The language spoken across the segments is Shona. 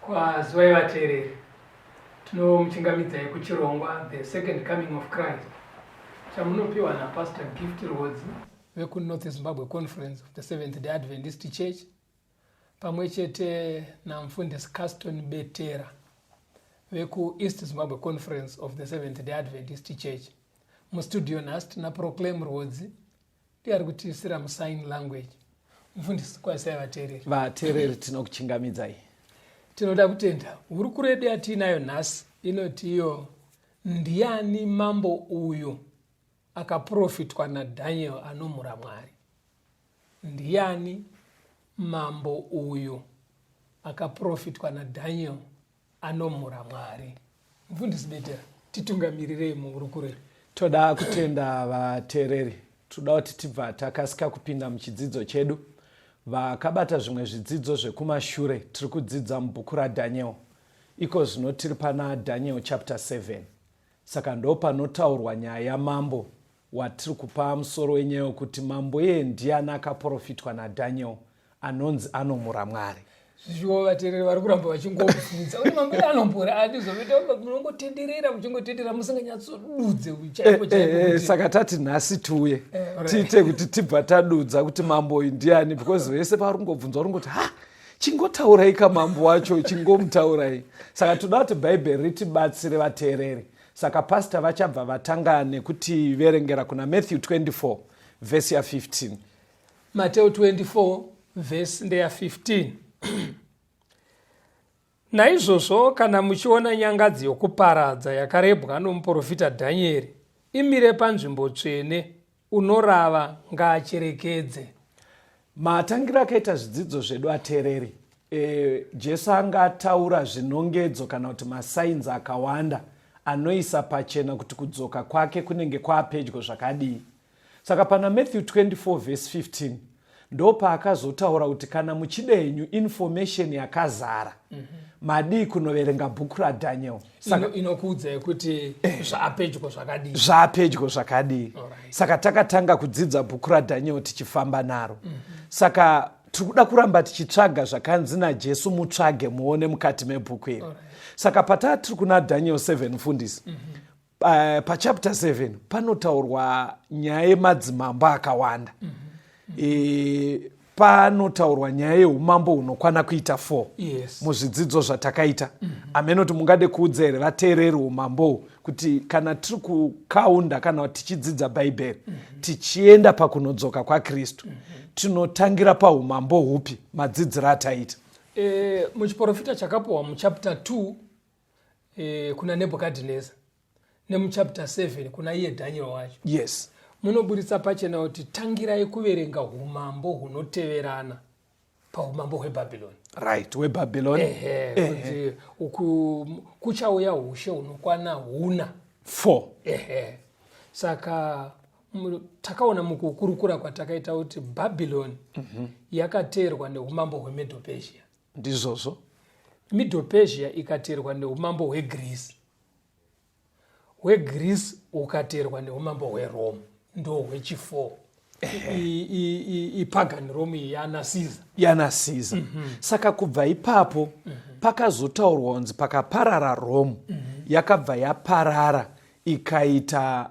Kwazivai vateereri, tinomuchingamidzai kuchirongwa The Second Coming of Christ chamunopiwa naPastor Gift Rhodzi vekuNorth Zimbabwe Conference of the Seventh Day Adventist Church pamwe chete namfundisi Caston Betera vekuEast Zimbabwe Conference of the Seventh Day Adventist Church. Mustudio nhasi tina Proclaim Rhodzi ndiari kutiisira musign language mfundisi kwaisai vateereri vateereri tinokuchingamidzai tinoda kutenda hurukuro yedu yatiinayo nhasi inoti iyo ndiani mambo uyu akaprofitwa nadhaniel anomhura mwari ndiani mambo uyu akaprofitwa nadhaniel anomhura mwari mfundisi betera titungamirirei muhurukuro iri toda kutenda vateereri tinoda kuti tibva takasika kupinda muchidzidzo chedu vakabata zvimwe zvidzidzo zvekumashure tiri kudzidza mubhuku radhaniel iko zvino tiri pana dhaniel chapter 7 saka ndo panotaurwa nyaya yamambo watiri kupa musoro wenyaya wekuti mambo iye ndiyani akaprofitwa nadaniel anonzi anomura mwari zviwo vatereri vari kuramba vachingobvunza kuti mambo iye anombura ani zvoita munongotenderera muchingotenderera musinganyatsodudze eh, chaiko eh, eh, chaiko saka tati nhasi tiuye tiite kuti tibva tadudza kuti mambo uyu ndiyani because vese pavari kungobvunza vari kungoti ha chingotaurai kamambo wacho chingomutaurai saka toda kuti bhaibheri ritibatsire vateereri Saka pastor vachabva vatanga nekuti verengera kuna Matthew 24 verse ya 15. Mateo 24 verse ndeya 15. Naizvozvo kana muchiona nyangadzi yokuparadza yakarebwa nomuprofita Dhanieri imire panzvimbo tsvene Unorava ngaacherekedze. Matangira akaita zvidzidzo zvedu atereri. E, Jesu anga ataura zvinongedzo kana kuti masainzi akawanda anoisa pachena kuti kudzoka kwake kunenge kwaapedyo zvakadii. Saka pana Matthew 24 vhesi 15 ndopaakazotaura kuti kana muchida henyu information yakazara mm -hmm. madii kunoverenga bhuku radaniel saka inokuudzai kuti eh. zvaapedyo zvakadii zvaapedyo zvakadii right. saka takatanga kudzidza bhuku radaniel tichifamba naro mm -hmm. saka tiri kuda kuramba tichitsvaga zvakanzi najesu mutsvage muone mukati mebhuku iri right. saka pataa tiri kuna daniel 7 mfundisi mm -hmm pachapter 7 panotaurwa nyaya yemadzimambo akawanda mm -hmm. e, panotaurwa nyaya yeumambo hunokwana kuita 4 yes. muzvidzidzo zvatakaita mm -hmm. amene kuti mungade kuudza here vateereri umambohu kuti kana tiri kukaunda kana tichidzidza bhaibheri mm -hmm. tichienda pakunodzoka kwakristu mm -hmm. tinotangira paumambo hupi madzidziro ataita e, muchiprofita chakapuhwa muchapter 2 eh, kuna nebhukadhinesa nemuchapter 7 kuna iye dhaniel wacho yes munoburitsa pachena kuti tangirai kuverenga umambo hunoteverana paumambo hwebhabhiloni right webhabhiloni ehe kuti uku kuchauya ushe hunokwana huna four ehe saka mu- takaona mukukurukura kwatakaita kuti bhabhiloni yakateerwa neumambo hwemedopesia ndizvozvo middle persia ikaterwa neumambo hwegreece hwegreece ukaterwa neumambo hwerome ndo hwechifour ipagan rome iyi yanasiza yanasiza mm -hmm. saka kubva ipapo mm -hmm. pakazotaurwa kunzi pakaparara rome mm -hmm. yakabva yaparara ikaita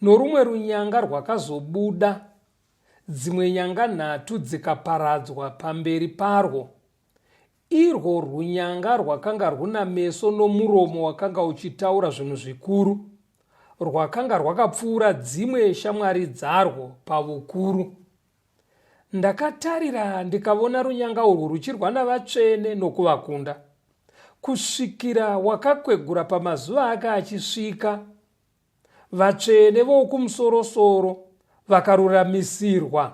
Norumwe runyanga rwakazobuda, dzimwe nyanga nhatu dzikaparadzwa pamberi parwo. Irwo runyanga rwakanga rwuna meso nomuromo wakanga uchitaura zvinhu zvikuru. Rwakanga rwakapfuura dzimwe shamwari dzarwo pavukuru. Ndakatarira ndikavona runyanga urwu ruchirwa navatsvene nokuvakunda. Kusvikira wakakwegura pamazuva ake achisvika, Vatsvene vokumusorosoro vakaruramisirwa,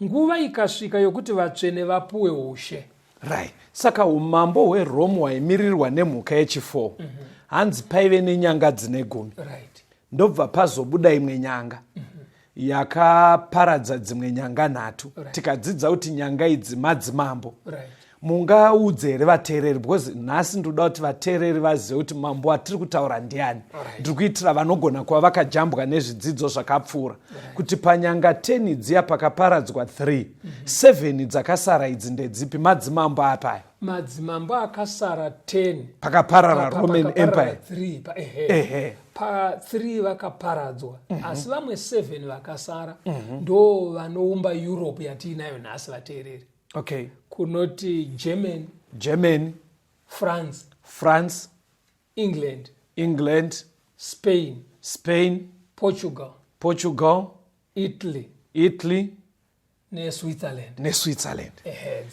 nguva ikasvika yokuti vatsvene vapuwe ushe. Right. Saka umambo hweRome hwaimirirwa nemhuka yechifour. Mm -hmm. Hanzi paive nenyanga dzine gumi. Right. Ndobva pazobuda imwe nyanga. Mm -hmm. yakaparadza dzimwe nyanga nhatu right. tikadzidza kuti nyanga idzi madzimambo right mungaudze here vateereri because nhasi ndoda kuti vateereri vazive kuti mambo atiri kutaura ndiani ndiri kuitira vanogona kuva vakajambwa nezvidzidzo zvakapfuura kuti panyanga 10 dziya pakaparadzwa 3 7 mhm. dzakasara idzi ndedzipi madzimambo apaya madzimambo akasara 10 pakaparara roman empire 3 pa ehe, ehe. pa 3 vakaparadzwa mm -hmm. asi vamwe 7 vakasara mm -hmm. ndo vanoumba europe yatiinayo nhasi vateereri okay kunoti german german france france england england spain spain portugal portugal italy italy neswitzerland neswitzerland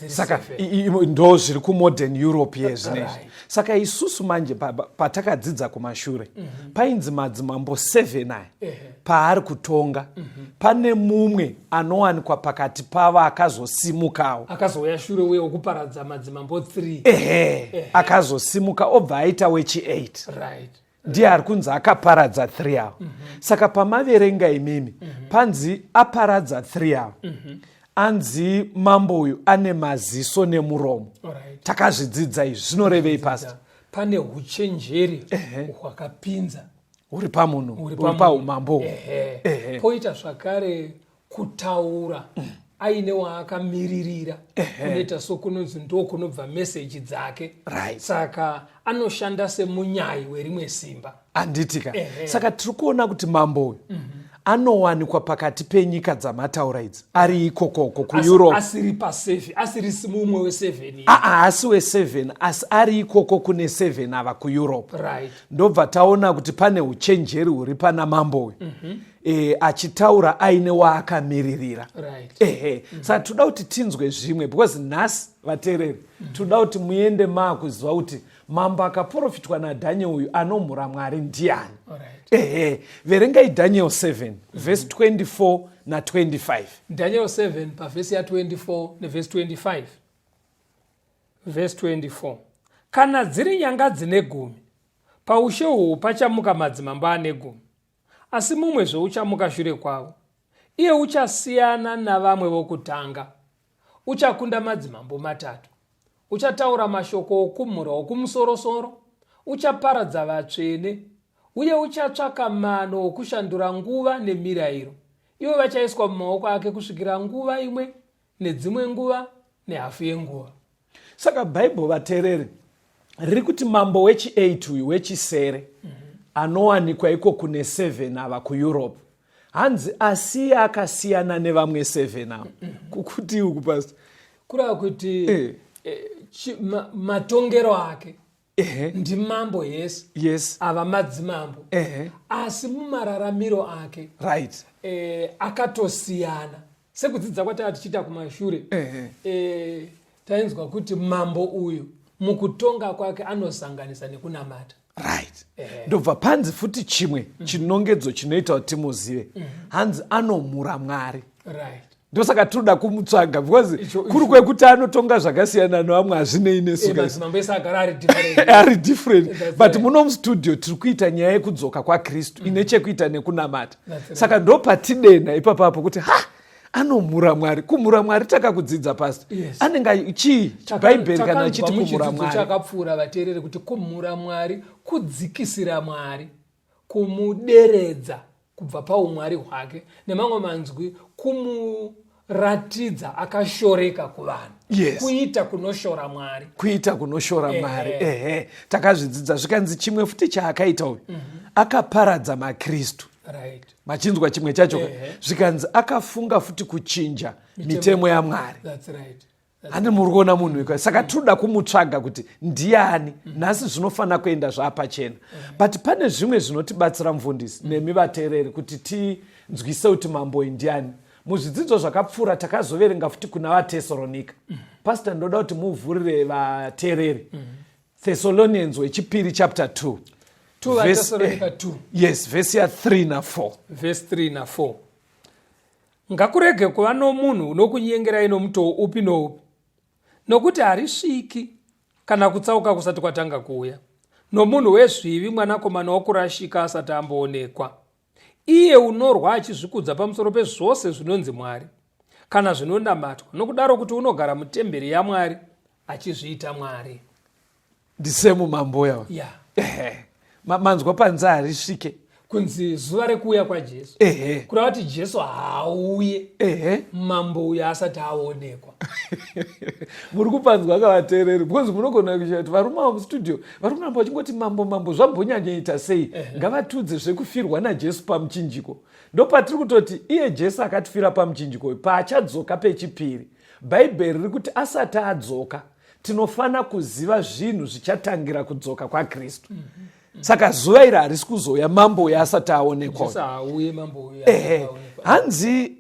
saka ndo zviri kumodern europe ye zvinezvi saka isusu manje patakadzidza kumashure mhm. painzi madzimambo 7 aya paari kutonga mhm. pane mumwe anowanikwa pakati pavo akazosimukawo akazouya shure uye wekuparadza madzimambo 3 ehe akazosimuka obva aita wechi 8 ndiye ari kunzi akaparadza three avo mm -hmm. saka pamaverenga imimi mm -hmm. panzi aparadza three avo mm -hmm. anzi mambo uyu ane maziso nemuromo right. takazvidzidza izvi zvinorevei pasta pane uchenjeri hwakapinza uh -huh. huri pamunhu huri paumambo poita zvakare kutaura aine waakamiririra kunoita so kunonzi ndo kunobva meseji dzake right. saka anoshanda semunyayi werimwe simba anditika saka tiri kuona kuti mambo uyu mm -hmm anowanikwa pakati penyika dzamataura idzi ari ikokoko kueurope asiri paseven asiri mumwe weseven aa ah, ah, asi weseven asi ari ikoko kune seven ava kueurope right. ndobva taona kuti pane uchenjeri huri pana mambo uyu mm -hmm. e, achitaura aine waakamiririra right. ehe mm. saka toda kuti tinzwe zvimwe because nhasi vateereri mm. toda kuti muende maakuziva kuti mambo akaprofitwa nadhaniel uyu anomhura mwari ndiani right. ehe verengai daniel 7 mm. vhesi 24 na25 daniel 7 pavhesi ya24 nevhesi 25 vhesi 24 kana dziri nyanga dzine gumi paushe uhwu pachamuka madzimambo ane gumi Asi mumwe zvouchamuka shure kwavo, iye uchasiyana navamwe vokutanga, uchakunda madzimambo matatu, uchataura mashoko okumhura okumusorosoro, uchaparadza vatsvene, uye uchatsvaka mano okushandura nguva nemirayiro, ivo vachaiswa mumaoko ake kusvikira nguva imwe nedzimwe nguva nehafu yenguva saka bhaibho vatereri riri kuti mambo wechi8 uyu wechisere mm -hmm. anowanikwa iko kune 7 ava kueurope hanzi asiye akasiyana nevamwe 7 ava mm -hmm. kukuti uku pasi kurava kuti eh. Eh, matongero ake Ehe. ndimambo yes yes ava madzimambo Ehe. asi mumararamiro ake right eh, akatosiyana sekudzidza kwatava tichiita kumashure Ehe. eh, tainzwa kuti mambo uyu mukutonga kwake anosanganisa nekunamata right Ehe. ndobva panzi futi chimwe chinongedzo chinoita kuti timuzive hanzi anomhura mwari right ndosaka tinoda kumutsvaga because kuri kwekuti anotonga zvakasiyana nevamwe hazvinei nesuari different but muno mustudio tiri kuita nyaya yekudzoka kwakristu mm. ine chekuita nekunamata saka ndo patidena ipapapo kuti ha anomhura mwari kumhura mwari takakudzidza pasi yes. anenge chii bhaibheri kana achiti kumhura mwari chakapfuura vateereri kuti kumhura mwari kudzikisira mwari kumuderedza kubva paumwari hwake nemamwe manzwi kumuratidza akashoreka kuvanhu yes. kuita kunoshora mwari kuita kunoshora mwari ehe eh, eh. takazvidzidza zvikanzi chimwe futi chaakaita uyu mm -hmm. akaparadza makristu right. machinzwa chimwe chacho eh, zvikanzi akafunga futi kuchinja mitemo yamwari right. handi muri kuona munhu weka saka tinoda kumutsvaga kuti ndiani mm. nhasi zvinofanira kuenda zvaapachena mm. but pane zvimwe zvinotibatsira mufundisi mm. nemi vateereri kuti tinzwise kuti mamboi ndiani muzvidzidzo zvakapfuura takazoverenga futi kuna vatesoronika pasita ndoda kuti muvhurire vateereri thessalonians wechipiri chapter 2 yes vhesi ya 3 na 4 Ngakurege kuva nomunhu unokunyengerai nomutoo upi noupi, nokuti harisviki kana kutsauka kusati kwatanga kuuya, nomunhu wezvivi mwanakomana wokurashika asati amboonekwa, iye unorwa achizvikudza pamusoro pezvose zvinonzi Mwari, kana zvinonamatwa, nokudaro kuti unogara mutemberi yaMwari, achizviita mwari ndisemu mamboya yeah. ehe manzwa panze harisvike kunzi zuva rekuuya kwajesu ehe kureva kuti jesu haauye ehe mambo uyo asati aonekwa muri kupanzwa akavateereri because munogona kuita kuti varume avo mustudio vari kuramba vachingoti mambo mambo zvambonyanyaita sei ngavatiudze zvekufirwa najesu pamuchinjiko ndopatiri kutoti iye jesu akatifira pamuchinjiko uyu paachadzoka pechipiri Bhaibheri riri kuti asati adzoka tinofanira kuziva zvinhu zvichatangira kudzoka kwakristu mm -hmm. saka zuva iri harisi kuzouya mambo uyo asati aonekwa hanzi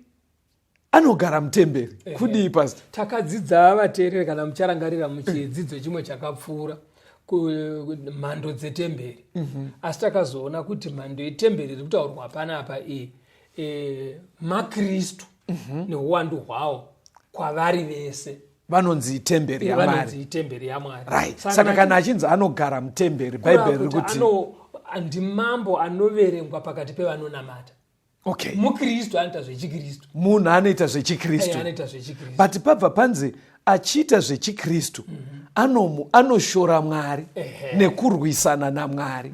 anogara mutemberi eh, kudii eh. pasta takadzidza vateereri kana mucharangarira muchidzidzo chimwe chakapfuura mhando dzetemberi mm -hmm. asi takazoona kuti mhando yetemberi iri kutaurwa panapa iyi e, makristu mm -hmm. mhm. neuwandu hwawo kwavari vese vanonzi itemberi yamari itemberi yamwari right saka kana achinzi anogara mutemberi bhaibheri riri kuti ndimambo anoverengwa pakati pevanonamata okay mukristu anoita zvechikristu munhu anoita zvechikristu anoita zvechikristu but pabva panzi achiita zvechikristu mm -hmm. anomu anoshora mwari nekurwisana namwari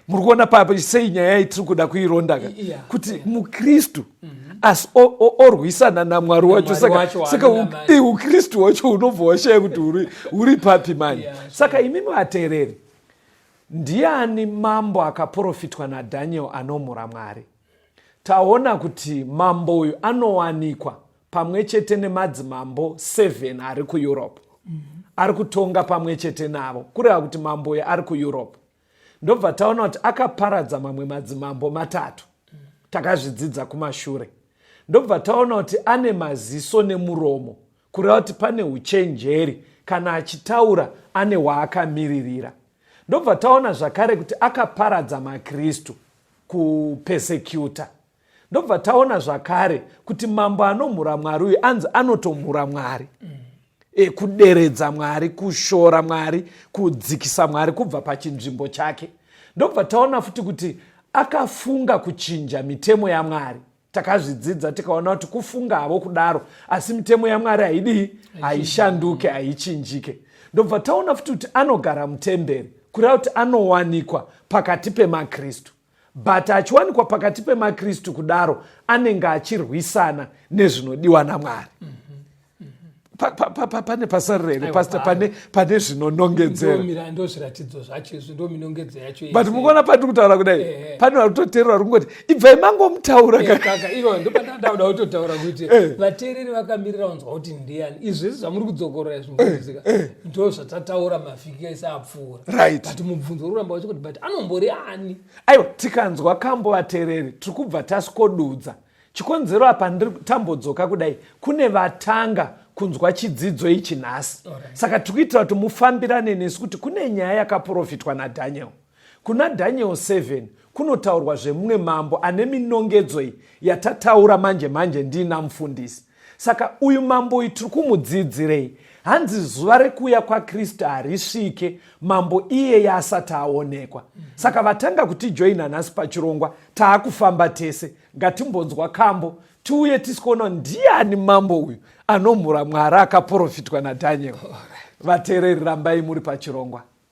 muri kuona papo sei nyaya yayi tiri kuda kuirondaka yeah. kuti yeah. mukristu mm -hmm. asi orwisana namwari wacho saka saka ukristu wacho unobva washaya kuti uri, uri papi mani yeah, sure. saka imimi vateereri ndiani mambo akaprofitwa nadhaniel anomhura mwari taona kuti mambo uyu anowanikwa pamwe chete nemadzimambo 7 ari kueurope mm -hmm. ari kutonga pamwe chete navo kureva kuti mambo uyo ari kueurope ndobva taona kuti akaparadza mamwe madzimambo matatu takazvidzidza kumashure ndobva taona kuti ane maziso nemuromo kureva kuti pane uchenjeri kana achitaura ane waakamiririra ndobva taona zvakare kuti akaparadza makristu kupesecuta ndobva taona zvakare kuti mambo anomhura mwari uyu anzi anotomhura mwari mm. e, kuderedza mwari kushora mwari kudzikisa mwari kubva pachinzvimbo chake ndobva taona futi kuti akafunga kuchinja mitemo yamwari takazvidzidza tikaona kuti kufunga havo kudaro asi mitemo yamwari haidii haishanduke haichinjike ndobva taona futi kuti anogara mutemberi kureva kuti anowanikwa pakati pemakristu but achiwanikwa pakati pemakristu kudaro anenge achirwisana nezvinodiwa namwari mm -hmm pane pasarira here pasta pane pane zvinonongedzerandomirando zviratidzo zvacho izvi ndo minongedzo yacho but mukuona pati kutaura kudai eh, eh. pane vari kutoteerera vari kungoti ibvai mangomutaura eh, kaka iro ndo pandandauda kutotaura kuti vateereri vakamirira vanzwa kuti ndiyani izvi zvese zvamuri kudzokorora izvi mukuziva ndo zvatataura mavhiki ese apfu pfuura right but mubvunzo uri kuramba wachikuti but anombori ani aiwa tikanzwa kambo vatereri tiri kubva tasikodudza chikonzero apa ndiri tambodzoka kudai kune vatanga kunzwa chidzidzo ichi nhasi right. saka tiri kuitira kuti mufambirane nesu kuti kune nyaya yakaprofitwa nadaniel kuna daniel 7 kunotaurwa zvemumwe mambo ane minongedzo iyi yatataura manje manje ndiina mufundisi Saka uyu mambo uyu tiri kumudzidzirei? Hanzi zuva rekuuya kwaKristu harisvike mambo iyeye asati aonekwa. Saka vatanga kutijoina nhasi pachirongwa, taakufamba tese. Ngatimbonzwa kambo tiuye tisikoona ndiani mambo uyu anomhura mwari akaprofitwa nadhaniel vateereri rambai muri pachirongwa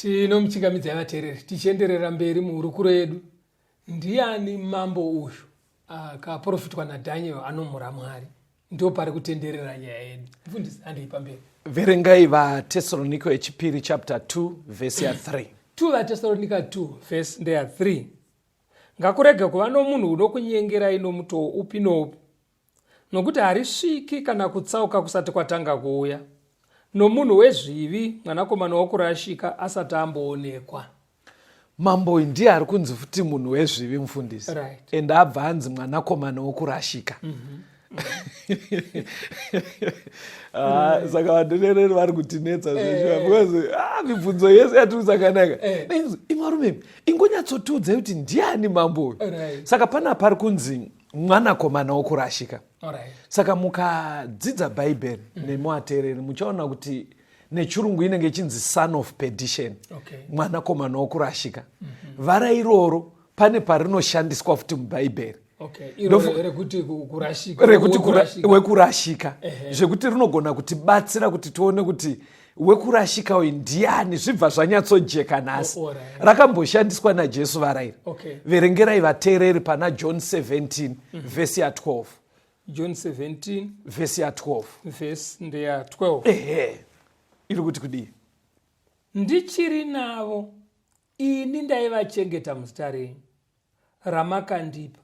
tinomuchingamidzai vateereri tichienderera mberi muhurukuro yedu ndiani mambo uyu akaprofitwa nadaniel anomhura mwari ndo pari kutenderera nyaya yedu mfundisi andei pamberi verengai vatesaronika yechipiri chapter 2 vhesi ya 3 2 vatesaronika 2 vhesi ndeya 3 ngakurege kuva nomunhu unokunyengerai nomutoo upi noupi nokuti harisviki kana kutsauka kusati kwatanga kuuya nomunhu wezvivi mwanakomana wokurashika asati amboonekwa mambo ndiye ari kunzi futi munhu wezvivi mufundisi right. and abva anzi mwanakomana wokurashika mm -hmm. Ah, saka vadonereri vari kutinetsa zveshuwa eh. because ah, mibvunzo yese yatiri kusakanaka eh. imarumemi ingonyatsotiudzai kuti ndiani mambo uyu saka pana pari kunzi mwanakomana wokurashika saka mukadzidza bhaibheri mm. nemuateereri muchaona kuti mm. nechirungu inenge ichinzi son of perdition okay. mwanakomana wokurashika mm -hmm. vara iroro pane parinoshandiswa futi mubhaibheri wekurashika zvekuti rinogona kutibatsira kuti tione kuti wekurashika uyu ndiani zvibva zvanyatsojeka nhasi oh, oh, rakamboshandiswa najesu varairi verengerai vateereri pana john 17 mhm. vhesi ya 12 john 17 vhesi ya 12 vhesi ndeya 12 ehe iri kuti kudii ndichiri navo ini ndaivachengeta muzita renyu ramakandipa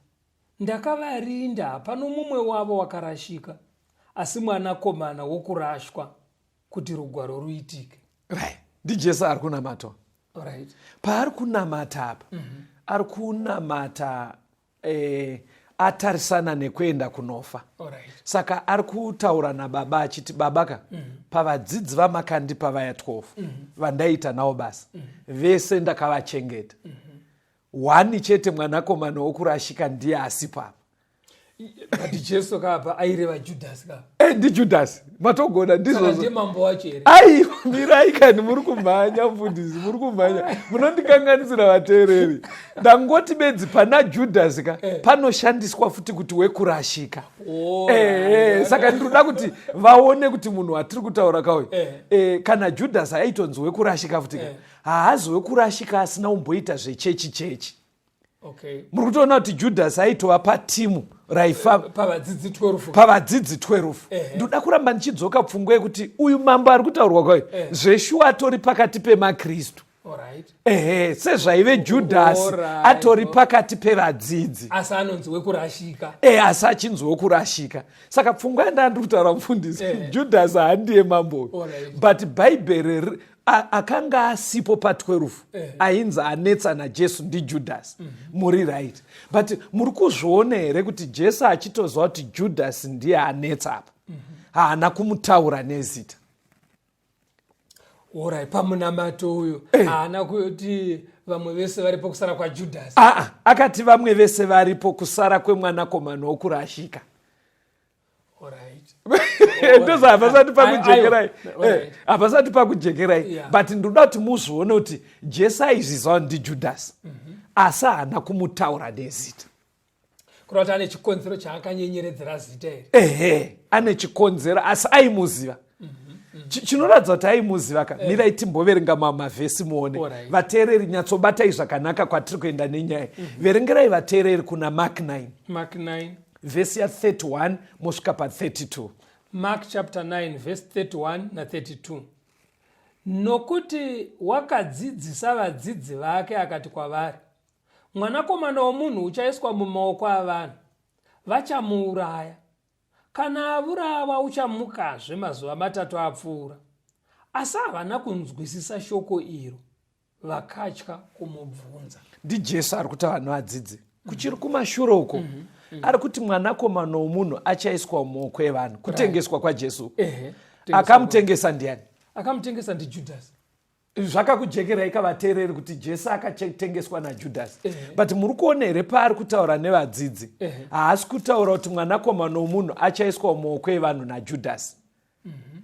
ndakavarinda hapano mumwe wavo wakarashika asi mwanakomana wokurashwa kuti rugwaro ruitike right ndijesu ari kunamatwa right paari kunamata apa mm -hmm. ari kunamata eh, atarisana nekuenda kunofa right. saka ari kutaura nababa achiti baba ka mm -hmm. pavadzidzi vamakandipa vaya 12 mm -hmm. vandaita nawo basa mm -hmm. vese ndakavachengeta mm -hmm. one chete mwanakomana wokurashika ndiye asipo apa but jesu kaapa aireva judhasi ka eh, ndi judhasi matogona ndizvoaiwa mirai kani muri kumhanya mfundisi muri kumhanya munondikanganisira vateereri ndangoti bedzi pana judhasi ka eh. panoshandiswa futi kuti wekurashika oh, eh, saka ndinoda kuti vaone kuti munhu watiri kutaura kauyo eh. kana judhasi aitonzi wekurashika futi ka haazi wekurashika asina umboita zvechechi chechi okay. muri kutoona kuti judhasi aitova patimu raifa pavadzidzi 12 pavadzidzi 12 ndoda kuramba ndichidzoka pfungwa yekuti uyu mambo ari kutaurwa kwayo zveshuwa atori pakati pemakristu ehe sezvaive judhasi atori pakati pevadzidzi asi anonzi wekurashika e asi achinzi wekurashika saka pfungwa yandandiri kutaura mufundisi judhasi handiye mambo but bhaibheri akanga asipo pa 12 eh. ainzi anetsa najesu ndijudhasi mhm. muri right but muri kuzviona here kuti jesu achitoziva kuti judhasi ndiye anetsa apa mhm. haana kumutaura nezita orai pamunamato uyo eh. haana kuti vamwe vese varipo kusara kwajudhasi aa ah, ah, akati vamwe vese varipo kusara kwemwanakomana wokurashika ndoza hapasati pakujekerai eh, hapasati pakujekerai but ndoda kuti muzvione kuti jesu aizviziva ndijudhasi mhm. asi haana kumutaura nezita kureva kuti ane chikonzero chaakanyenyeredzera zita iri ehe ane chikonzero asi aimuziva chinoratidza kuti aimuziva ka eh. mirai timboverenga mavhesi muone vateereri nyatsobatai zvakanaka kwatiri kuenda nenyaya mhm. verengerai vateereri kuna mark 9 vhesi ya 31 mosvika pa 32 mark chapter 9 vhesi 31 na 32 nokuti wakadzidzisa vadzidzi vake akati kwavari mwanakomana womunhu uchaiswa mumaoko avanhu vachamuuraya Kana avurawa uchamukazve mazuva matatu apfuura. Asi havana kunzwisisa shoko iro vakatya kumubvunza. NdiJesu ari kuti vanhu vadzidze kuchiri kumashure uko mm -hmm. Mm -hmm. ari kuti mwanakomana womunhu achaiswa mumaoko evanhu kutengeswa kwaJesu. Right. Ehe. Akamutengesa ndiani? Akamutengesa ndiJudhasi. zvakakujekerai ka vateereri kuti jesu akatengeswa najudhasi eh. but muri kuona here paari kutaura nevadzidzi eh. haasi kutaura kuti mwanakomana womunhu achaiswa mumaoko evanhu najudhasi mhm.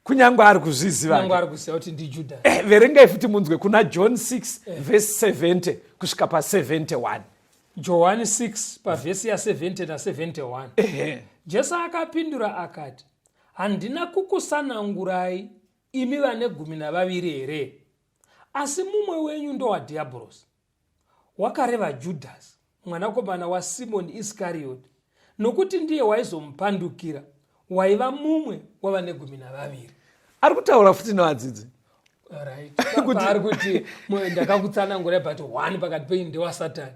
kunyange ari kuzvizivaverengai eh, futi munzwe kuna john 6 vhesi 70 kusvika pa 71 johani 6 pavhesi ya 70 na 71 jesu akapindura akati handina kukusanangurai imi vane gumi navaviri here asi mumwe wenyu ndowadhiyabhorosi wakareva judhasi mwanakomana wasimoni iskariyoti nokuti ndiye waizomupandukira waiva mumwe wavane gumi navaviri ari kutaura futi nevadzidzi ari kuti ndakakutsanangura but one pakati penyu ndewasatani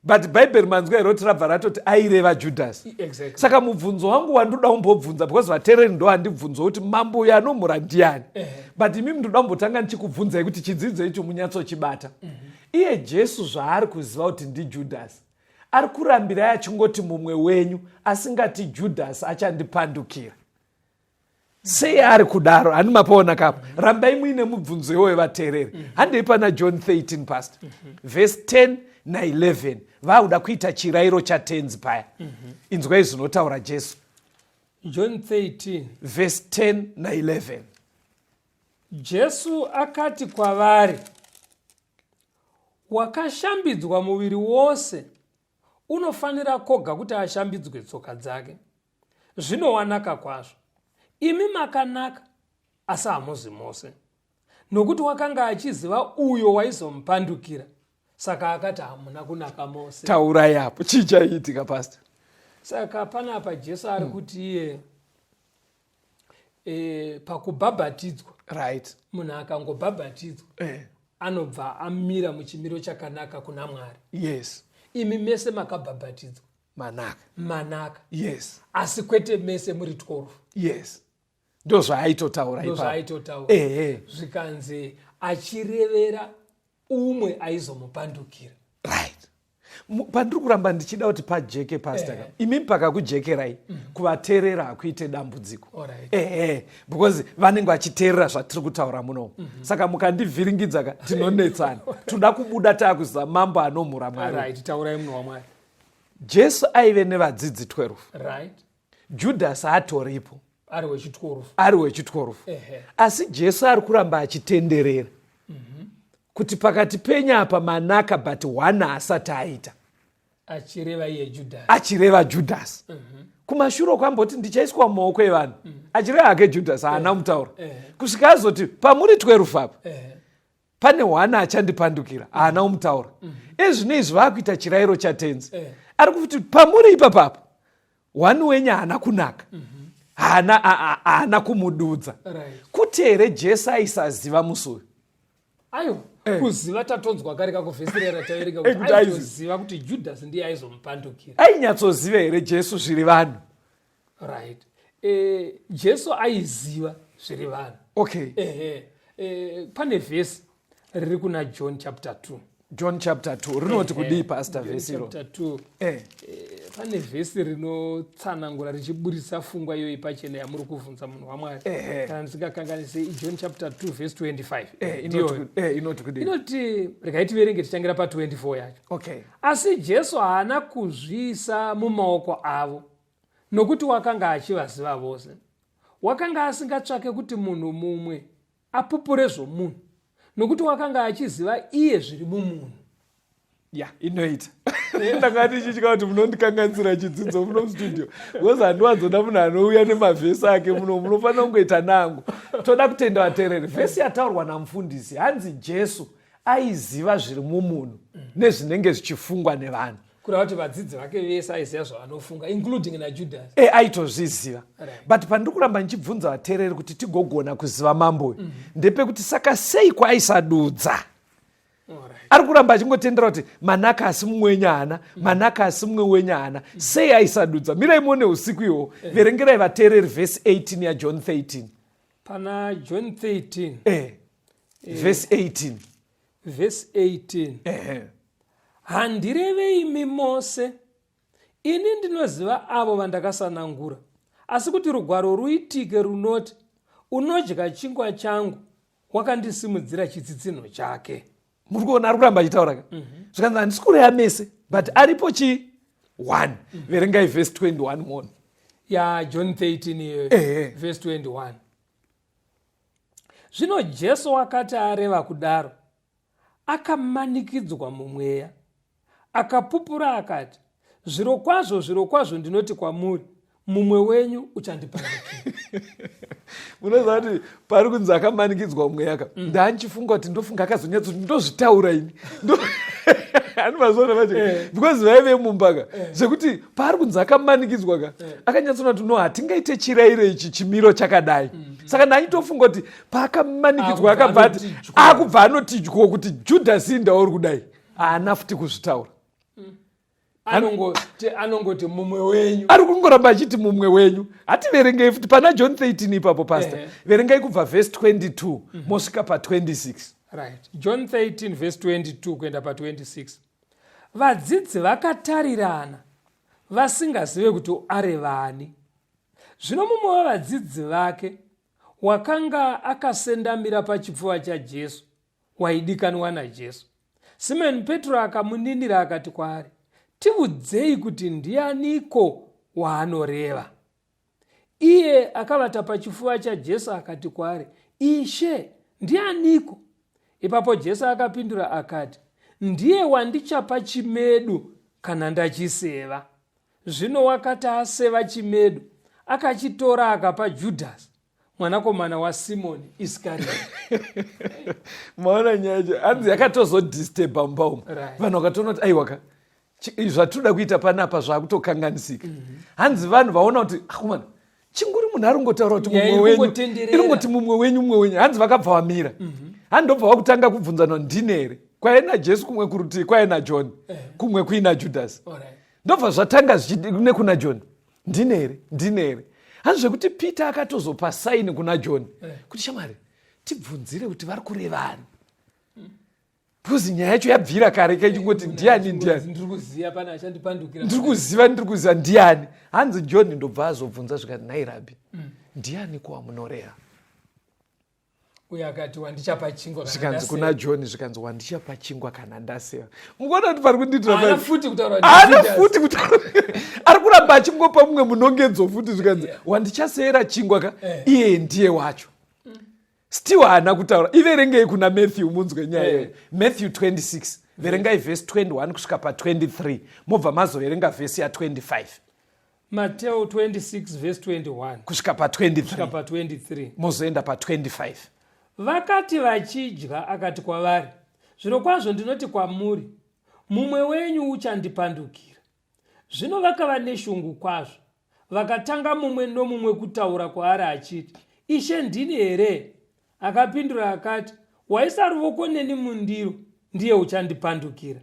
but bhaibheri manzwa here kuti rabva ratoti aireva judhasi exactly. saka mubvunzo wangu wandoda kumbobvunza because vatereri ndo handibvunzo kuti mambo uyo anomhura ndiani uh -huh. but imimi ndoda kumbotanga ndichikubvunzai kuti chidzidzo icho munyatsochibata uh mhm. -huh. iye jesu zvaari kuziva kuti ndijudhasi ari kurambirai achingoti mumwe wenyu asingati judhasi achandipandukira sei ari kudaro handi mapaona kapo mm -hmm. rambai muine mubvunzo iwoyo vateereri mm -hmm. handei pana john 13 past mm -hmm. vhesi 10 na 11 vakuda kuita chirairo chatenzi paya mm -hmm. inzwai zvinotaura jesu john 13 vhesi 10 na 11 jesu akati kwavari wakashambidzwa muviri wose unofanira koga kuti ashambidzwe tsoka dzake zvinowanaka kwazvo imi makanaka asi hamuzi mose nokuti wakanga achiziva uyo waizomupandukira saka akati hamuna kunaka mose taurai apo chii chaiitika pasta saka panapa jesu ari hmm. kuti iye e, pakubhabhatidzwa right munhu akangobhabhatidzwa eh. anobva amira muchimiro chakanaka kuna mwari yes imi mese makabhabhatidzwa manaka manaka yes asi kwete mese muri 12 yes ndo zvaaitotaura ndozvaaitotaura ehe zvikanzi achirevera umwe aizomupandukira right pandiri kuramba ndichida kuti pajeke pasta eh. imi pakakujekerai mm. kuvateerera hakuite dambudziko ehe eh. because vanenge vachiteerera zvatiri kutaura munomu mm -hmm. saka mukandivhiringidza ka tinonetsana toda kubuda taakuzaa mambo anomhura mwari right, taurai munhu wamwari jesu aive nevadzidzi 12 right. judhasi atoripo ari wechitworufu ari wechitworufu asi jesu ari kuramba achitenderera mm -hmm. kuti pakati penyu apa manaka but one asati aita achireva iye judhasi achireva judhasi mm -hmm. kumashure kwamboti ndichaiswa mumaoko evanhu mm -hmm. achireva hake judhasi haana kumutaura kusvika azoti pamuri twerufu apa pane one achandipandukira haana mm. umutaura mm. ezvino izvi vaakuita chirayiro chatenzi eh. ari kuti pamuri ipapapo one wenyu haana kunaka mm -hmm haana haana kumududza kuti here jesu aisaziva musi uyu aiwa eh. kuziva tatonzwa kari kakuvhesi rera taverenga eh, kutiaiziva kuti judhasi ndiye aizomupandukira ainyatsoziva here jesu zviri vanhu right eh, jesu aiziva zviri vanhu okay eh, eh, pane vhesi riri kuna john chapter 2 john chapter 2 rinoti eh, kudii pastor vhesi iro eh. pane vhesi rinotsanangura richiburitsa fungwa iyoyi pachena yamuri kuvhunza munhu wamwari kana ndisingakanganisi john chapter 2 vhesi 25 inoti regai tiverenge tichangira pa 24 yacho okay. asi jesu haana kuzviisa mumaoko avo Nokuti wakanga achivaziva vose, wakanga asingatsvake kuti munhu mumwe apupure zvomunhu, nokuti wakanga achiziva iye zviri mumunhu. Ya, inoita. Ndanga ndichitya kuti munondikanganisira chidzidzo muno mustudio. Because handiwanzoda munhu anouya nemavhesi ake muno, munofanira kungoita nangu. Toda kutenda vatereri. Vhesi yataurwa namufundisi, hanzi Jesu aiziva zviri mumunhu nezvinenge zvichifungwa nevanhu. kureva kuti vadzidzi vake vese aiziva zvavanofunga including najudhasi e eh, aitozviziva right. but pandiri kuramba ndichibvunza vateereri kuti tigogona kuziva mambo uyu mm -hmm. ndepekuti saka sei kwaisadudza ari kuramba achingotendera kuti manaka asi mumwe wenyu haana mm. manaka asi mumwe wenyu haana mm. sei aisadudza mirai muone usiku ihwohwo eh. verengerai vateereri vhesi 18 yajohn 13 pana john 13 eh. eh. vhesi 18 vhesi 18 ehe handireve imi mose ini ndinoziva avo vandakasanangura asi kuti rugwaro ruitike runoti unodya chingwa changu wakandisimudzira chitsitsinho chake muri kuona ari kuramba achitaura ka mm -hmm. zvikanzi handisi kureya mese but aripo chii one mm -hmm. verengai vhesi 21 moni ya john 13 iyoyo vhesi 21 zvino jesu wakati areva kudaro akamanikidzwa mumweya akapupura akati zvirokwazvo zvirokwazvo ndinoti kwamuri mumwe wenyu uchandipaunozaa kuti pari kunzi akamanikidzwa mweya ka mm. ndandichifunga kuti ndofunga akazonyatso kuti ndozvitaura ini ani mazoona vacho eh. because vaive mumbaka eh. zvekuti paari kunzi akamanikidzwa ka eh. akanyatsona kuti no hatingaite chirairo ichi chimiro chakadai mm -hmm. saka ndaitofunga kuti paakamanikidzwa akabva ati akubva anotidyowo kuti judhasi ndauri kudai haana futi kuzvitaura mm. anongoti mumwe wenyu ari kungoramba achiti mumwe wenyu hativerengei futi pana john 13 ipapo pasta eh. verengai kubva vhesi 22 mm -hmm. mosvika pa 26 right john 13 vhesi 22 kuenda pa 26 Vadzidzi vakatarirana vasingazive kuti areva ani. Zvino mumwe wevadzidzi vake wakanga akasendamira pachipfuva chaJesu waidikanwa naJesu. Simoni Petro akamuninira akati kwaari, Tivudzei kuti ndianiko waanoreva. iye akavata pachifuva chajesu akati kwaari ishe ndianiko ipapo jesu akapindura akati ndiye wandichapa chimedu kana ndachiseva zvino wakati aseva chimedu akachitora akapa judhasi mwanakomana wasimoni iskarioti maona nyaya cho hanzi yakatozodisteba mumba umu vanhu vakatoona kuti aiwaka zvatinoda kuita panapa zvakutokanganisika mhm. hanzi vanhu vaona kuti akomana ah, chinguri munhu ari kungotaura kuti mumwe wenyu iri kungoti mumwe wenyu mumwe wenyu hanzi vakabva vamira mhm. hanzi ndobva vakutanga kubvunzanwa ndini here kwaive najesu kumwe kurutii kwaive najohn eh. kumwe kuina judhasi ndobva zvatanga zvichine kuna john ndine here ndine here hanzi zvekuti peter akatozopa saini kuna john eh. kuti shamwari tibvunzire kuti vari kurevani because nyaya yacho yabvira kare kaichingoti ndiani ndiani ndiri kuziva ndiri kuziva ndiani hanzi john ndobva azobvunza zvikati nhai rabi mm. ndiani kuwa munoreha uye akati wandichapa chingwa zvikanzi kuna john zvikanzi wandichapa chingwa kana ndaseva mukuona kuti pari kundiitiraana futi kutaura ari kuramba achingopa mumwe munongedzo futi zvikanzi yeah. wandichaseera chingwa ka eh. iye ndiye wacho mm. still haana kutaura iverengei kuna matthew munzwe nyaya iyoyo eh. matthew 26 verengai vhesi 21 kusvika pa 23 mobva mazoverenga vhesi ya 25 Mateo 26 verse 21 kusvika pa kusvika 23 pa 23 mozoenda pa 25 vakati vachidya akati kwavari zvirokwazvo ndinoti kwamuri mumwe wenyu uchandipandukira zvino vakava neshungu kwazvo vakatanga mumwe nomumwe kutaura kwaari achiti ishe ndini here akapindura akati waisa ruvoko neni mundiro ndiye uchandipandukira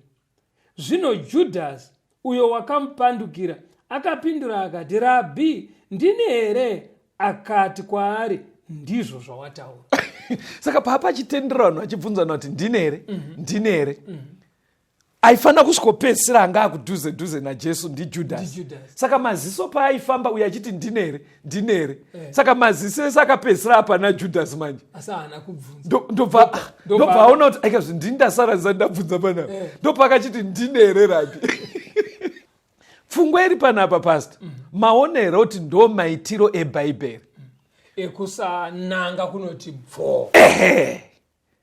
Zvino Judhasi, uyo wakamupandukira, akapindura akati, Rabhi, ndini here? Akati kwaari, Ndizvo zvawataura. Saka paapa achitenderano achibvunzana kuti ndini here? Mhm. Ndini here? Mhm. Aifanira kusvikopedzisira anga akudhuze dhuze naJesu ndiJudhasi. Saka maziso paaifamba uye achiti ndini here? ndini here eh. saka maziso ese akapedzisira apa najudhasi manje ndobva aona kuti aikazvi ndini ndasara ndisati ndabvunza panapa eh. ndopakachiti ndini here rabi pfungwa iri panapa pasta mhm. maona here kuti ndo maitiro ebhaibheri ekusananga kunoti bvoo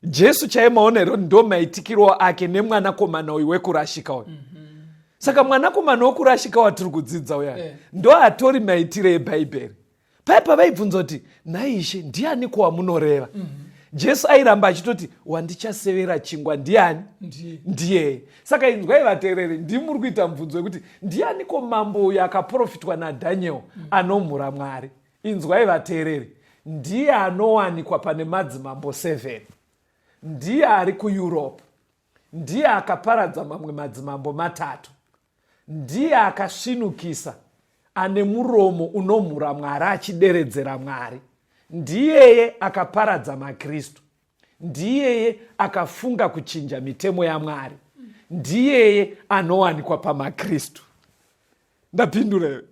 jesu chaiye maonero ndo maitikiro ake nemwanakomana uyu wekurashika uyu mm -hmm. saka mwanakomana wekurashika watiri kudzidza uya yeah. ndo atori maitiro ebhaibheri paye pavaibvunza kuti nhaishe ndiani kwamunoreva mm -hmm jesu airamba achitoti wandichasevera chingwa ndiani ndiyeye saka inzwai vateereri ndimuri kuita mubvunzo wekuti ndianiko mambo uyo akaprofitwa nadhaniel anomhura mwari inzwai vateereri ndiye anowanikwa pane madzimambo 7 ndiye ari kueurope ndiye akaparadza mamwe madzimambo matatu ndiye akasvinukisa ane muromo unomhura mwari achideredzera mwari ndiyeye akaparadza makristu Ndiyeye akafunga kuchinja mitemo yaMwari. Ndiyeye anowanikwa pamaKristu. Ndapindura here?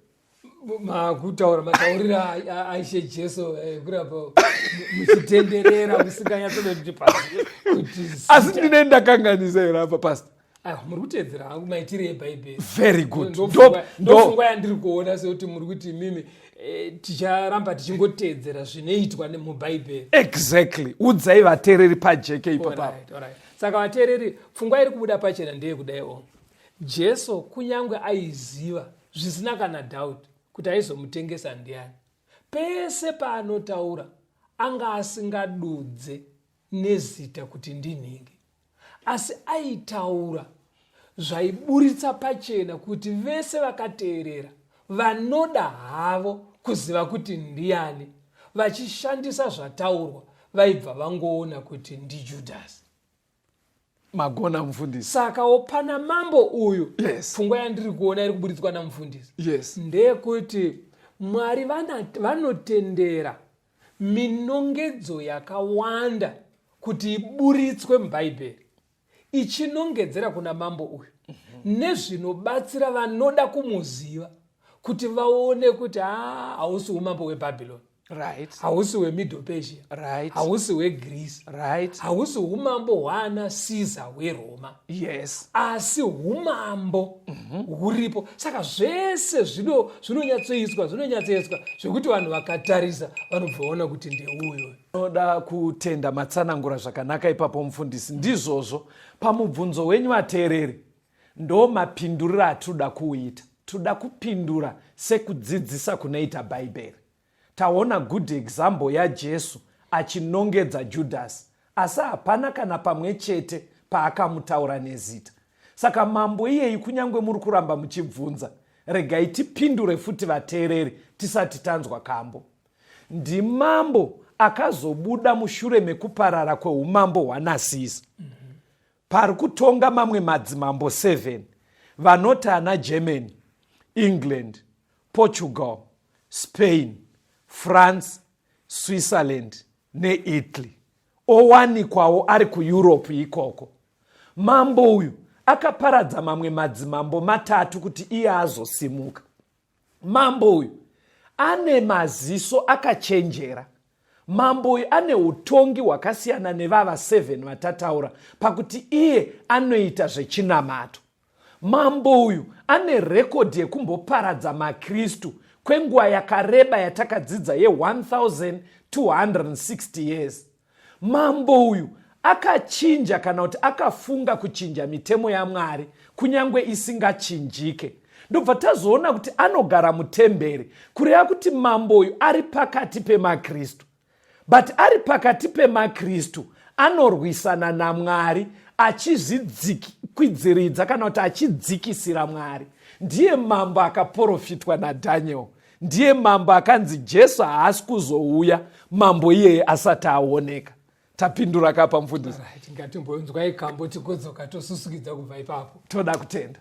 makutaura mataurire aishe jesu eh, kurapa muchitenderera musinganyatsoda kuti pasi asi ndine ndakanganisa here apa pasta Aiwa, muri kuteedzera hangu maitire ebhaibheri very good Ndop- ndopfungwa ndop- ndopfungwa yandiri kuona sekuti muri kuti imimi eh, ticharamba tichingoteedzera zvinoitwa ne- mubhaibheri exactly udzai vateereri pajeke ipo papa Alright, alright. saka vateereri pfungwa iri kubuda pachena ndeyekudai o jesu kunyange aiziva zvisina kana doubt kuti aizomutengesa ndiani pese paanotaura anga asingadudze nezita kuti ndinhingi asi aitaura zvaiburitsa pachena kuti vese vakateerera vanoda havo kuziva kuti ndiani vachishandisa zvataurwa vaibva vangoona kuti ndijudhasi magona mufundisi saka wopana mambo uyu yes. pfungwa yandiri kuona iri kuburitswa namufundisi yes. ndeyekuti mwari vanotendera Minongedzo yakawanda kuti iburitswe muBhaibheri ichinongedzera kuna mambo uyu mhm. nezvinobatsira vanoda kumuziva kuti vaone kuti ah, hausi umambo webhabhironi right hausi wemiddle persia right hausi wegreece right hausi umambo hwaana caesar weroma yes asi umambo mhm. huripo mm -hmm. saka zvese zvinonyatsoiswa zvinonyatsoiswa zvekuti vanhu vakatarisa vanobvaona kuti ndeuyo noda kutenda matsanangura zvakanaka ipapo mufundisi ndizvozvo pamubvunzo wenyu vateereri ndo mapinduriro atinoda kuuita tinoda kupindura sekudzidzisa kunoita bhaibheri Taona good example yaJesu achinongedza Judhasi asi hapana kana pamwe chete paakamutaura nezita. Saka mambo iyeyi kunyange muri kuramba muchibvunza, regai tipindure futi vateereri tisati tanzwa kambo. Ndimambo akazobuda mushure mekuparara kweumambo hwanasisi. Mm -hmm pari kutonga mamwe madzimambo 7 vanoti ana germany england portugal spain france switzerland neitaly owanikwawo ari kueurope ikoko mambo uyu akaparadza mamwe madzimambo matatu kuti iye azosimuka mambo uyu ane maziso akachenjera mambo uyu ane utongi hwakasiyana nevava 7 vatataura pakuti iye anoita zvechinamato Mambo uyu ane rekodhi yekumboparadza maKristu kwenguva yakareba yatakadzidza ye1260 years. Mambo uyu akachinja kana kuti akafunga kuchinja mitemo yaMwari kunyange isingachinjike. Ndobva tazoona kuti anogara mutemberi, kureva kuti mambo uyu ari pakati pemaKristu. but ari pakati pemakristu anorwisana namwari achizvidzikwidziridza kana kuti achidzikisira mwari ndiye mambo akaprofitwa nadhaniel ndiye mambo akanzi jesu haasi kuzouya mambo iyeye asati aoneka tapindura kapa mfundisi tingatimbonzwai kambo tigodzoka tosusukidza kubva ipapo toda kutenda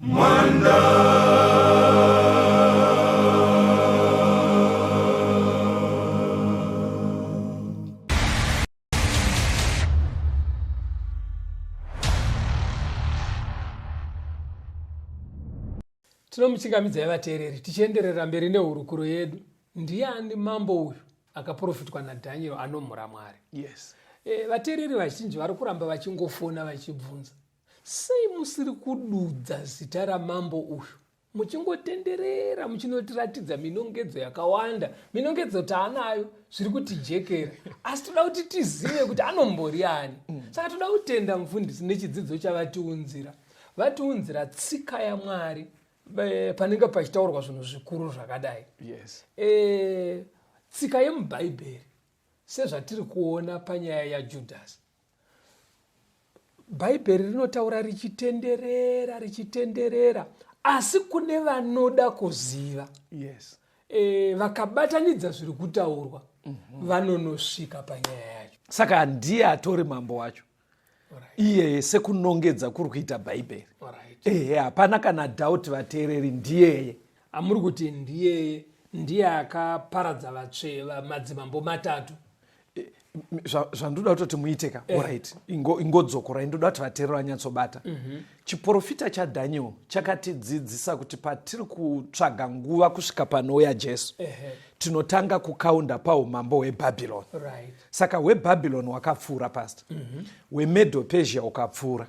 Mwanda. tinomuchingamidzai vateereri tichienderera mberi nehurukuro yedu ndiani mambo uyu akaprofitwa nadhanieri anomhura mwari yes e, vateereri vazhinji vari kuramba vachingofona vachibvunza Sei musiri kududza zita ramambo uyu muchingotenderera muchinotiratidza minongedzo yakawanda minongedzo taanayo zviri kutijekera asi toda kuti tizive kuti anombori ani mm. saka toda kutenda mufundisi nechidzidzo chavatiunzira vatiunzira tsika yamwari panenge pachitaurwa zvinhu zvikuru zvakadai yes. e, tsika yemubhaibheri sezvatiri kuona panyaya yajudhasi bhaibheri rinotaura richitenderera richitenderera asi kune vanoda kuziva yes. e, vakabatanidza zviri kutaurwa mm -hmm. vanonosvika panyaya yacho saka handiye atori mambo wacho right. iyeye sekunongedza kuri kuita bhaibheri right. ehe hapana kana dhauti vateereri ndiyeye amuri kuti ndiyeye ndiye akaparadza vatsveva madzimambo matatu zvandoda kutoti muite ka eh. orit ingodzokorai ndoda kuti vateerero vanyatsobata mhm. chiprofita chadaniel chakatidzidzisa kuti patiri kutsvaga nguva kusvika panouya jesu tinotanga kukaunda paumambo hwebhabhironi saka hwebhabhironi wakapfuura past mhm. hwemedo persia ukapfuura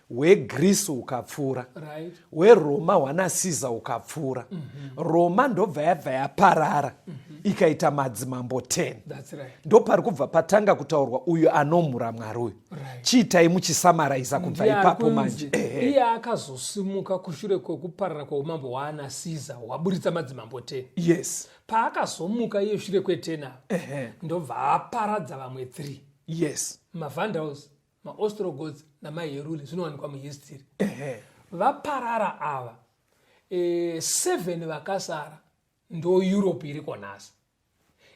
hwegrisi ukapfuura right. hweroma hwanasiza ukapfuura mm -hmm. roma ndobva yabva yaparara mm -hmm. ikaita madzimambo 10 right. ndopari kubva patanga kutaurwa uyu anomhura mwari uyu right. chiitai muchisamaraiza kubva ipapo manje iye akazosimuka kushure kwekuparara kweumambo hwaanasiza hwaburitsa madzimambo 10 yes paakazomuka iye shure kwe 10 ndobva aparadza vamwe 3 yes mavandals maostrogots namaheruli zvinowanikwa muhistiri vaparara ava e, seven vakasara ndo europe iri konhasi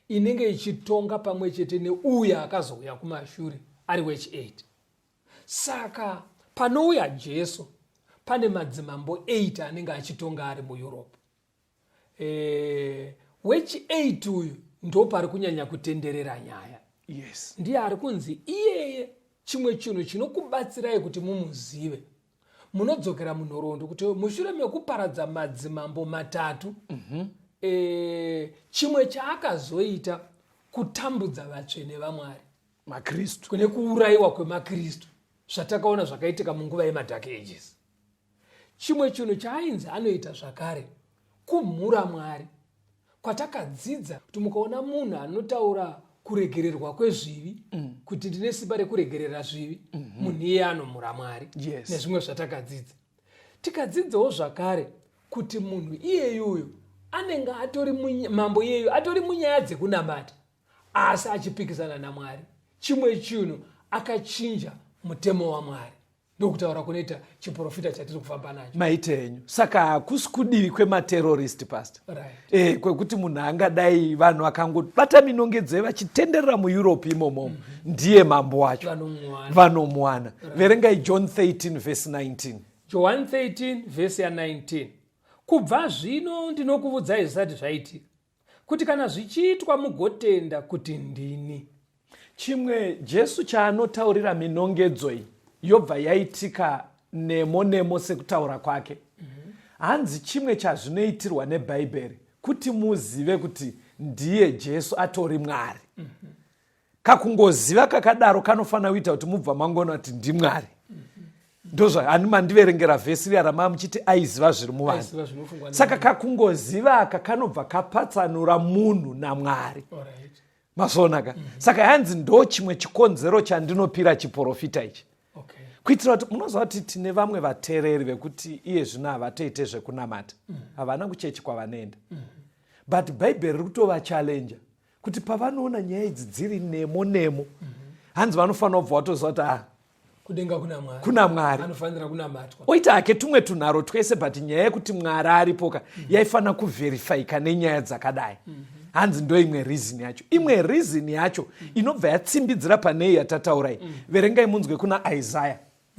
inenge ichitonga pamwe chete neuya akazouya kumashure ari wech 8 saka panouya jesu pane madzimambo 8 anenge achitonga ari mueurope eh, wechi 8 uyu ndo pari kunyanya kutenderera nyaya yes ndiye ari kunzi iyeye chimwe chinhu chinokubatsirai kuti mumuzive munodzokera munhoroondo kuti mushure mekuparadza madzimambo matatu mm -hmm. e, chimwe chaakazoita kutambudza vatsvene vamwari makristu kune kuurayiwa kwemakristu zvatakaona zvakaitika munguva yemadhake ages Chimwe chinhu chaainzi anoita zvakare kumhura Mwari kwatakadzidza kuti mukaona munhu anotaura kuregererwa kwezvivi mm. kuti ndine simba rekuregerera zvivi mm-hmm. munhu iye anomhura Mwari yes. nezvimwe zvatakadzidza tikadzidzawo zvakare kuti munhu iyeyuyo anenge atori mambo iyeyu atori munyaya dzekunamata asi achipikisana namwari chimwe chinhu akachinja mutemo wamwari ndokutaura kunoita chiprofita chatiri kufamba nacho maita enyu saka hakusi kudivi kwematerorist past right. e, kwekuti munhu angadai vanhu vakangobata minongedzei vachitenderera mueurope imomomo mm -hmm. ndiye mambo wacho vanomuwana right. verengai john 13 vhesi 19 john 13 vhesi ya 19 kubva zvino ndinokuvudzai zvisati zvaitika Kuti kana zvichiitwa mugotenda kuti ndini. Chimwe Jesu chaanotaurira minongedzo iyi yobva yaitika nemo nemo sekutaura kwake. Hanzi chimwe chazvinoitirwa neBhaibheri kuti muzive kuti ndiye Jesu atori Mwari. kakungoziva kakadaro kanofanira kuita kuti mubva mangoona kuti ndimwari ndozvaani mandiverengera vhesi riya ramaa muchiti aiziva zviri muvanhu saka kakungoziva aka kanobva kapatsanura munhu namwari masoonaka mm -hmm. saka hanzi ndo chimwe chikonzero chandinopira chiprofita ichi okay. kuitira kuti munoziva kuti tine vamwe vatereri vekuti iye zvino havatoite zvekunamata mm. havana mm -hmm. kuchechi kwavanoenda mm -hmm. but bhaibheri riri kutovachallenja kuti pavanoona nyaya idzi dziri nemo nemo mm -hmm. hanzi vanofanira kubva watoziva kuti ah, kudenga kuna mwari kuna mwari anofanira kunamatwa oita hake tumwe tunharo twese but nyaya yekuti mwari aripoka mm -hmm. yaifanira kuvherifyika nenyaya dzakadai mm -hmm. hanzi ndo imwe reason yacho imwe mhm. reason yacho mm -hmm. inobva yatsimbidzira panei yatataurai mm -hmm. verengai munzwe kuna isaya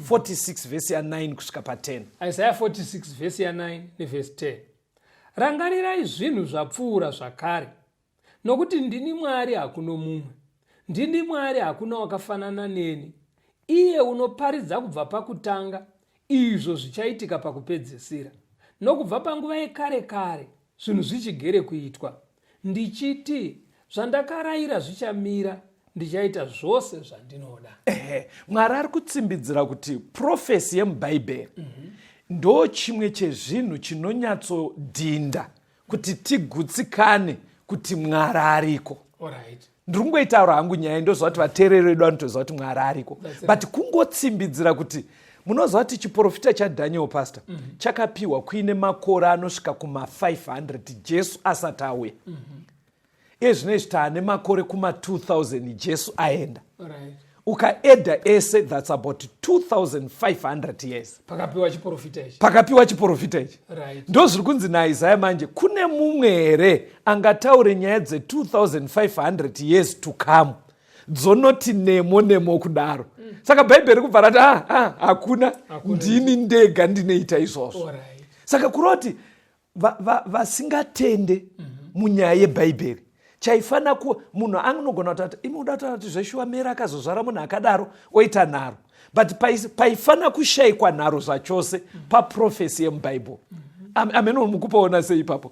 46 mhm. vhesi ya 9 kusvika pa 10 isaya 46 vhesi ya 9 nevhesi 10 Rangarirai zvinhu zvapfuura zvakare, nokuti ndini Mwari hakuno mumwe, ndini Mwari hakuna wakafanana neni, iye unoparidza kubva pakutanga izvo zvichaitika pakupedzisira, nokubva panguva yekare kare zvinhu zvichigere kuitwa. ndichiti zvandakaraira zvichamira ndichaita zvose zvandinoda ehe mwari ari kutsimbidzira kuti profesi yemubhaibheri mm -hmm. ndo chimwe chezvinhu chinonyatsodhinda kuti tigutsikane kuti mwari ariko right. ndiri kungoitaura hangu nyaya ndoziva kuti vateereri vedu vanotoziva kuti mwari ariko but kungotsimbidzira kuti munoziva kuti chiprofita chadaniel pastor mm -hmm. chakapiwa kuine makore anosvika kuma500 jesu asati auya mm -hmm. iye zvino izvi taane makore kuma2000 jesu aenda right. ukaedha ese thats about 2500 years pakapiwa chiprofita ichi pakapiwa chiprofita ichi right. ndo zviri kunzi naisaya manje kune mumwe here angataure nyaya dze2500 years to come dzonoti nemo nemo kudaro mm. saka bhaibheri kubva rati ah, ah, hakuna ndini ndega ndinoita izvozvo right. saka kuroti vasingatende va, va, mhm. munyaya yebhaibheri chaifanira kuwa munhu anogona kutati imi uda kutaura kuti zveshuwa mera akazozvara munhu akadaro oita nharo but paifanira kushayikwa nharo zvachose mhm. paprofesi yemubhaibheri mm -hmm amene mukupaona sei ipapo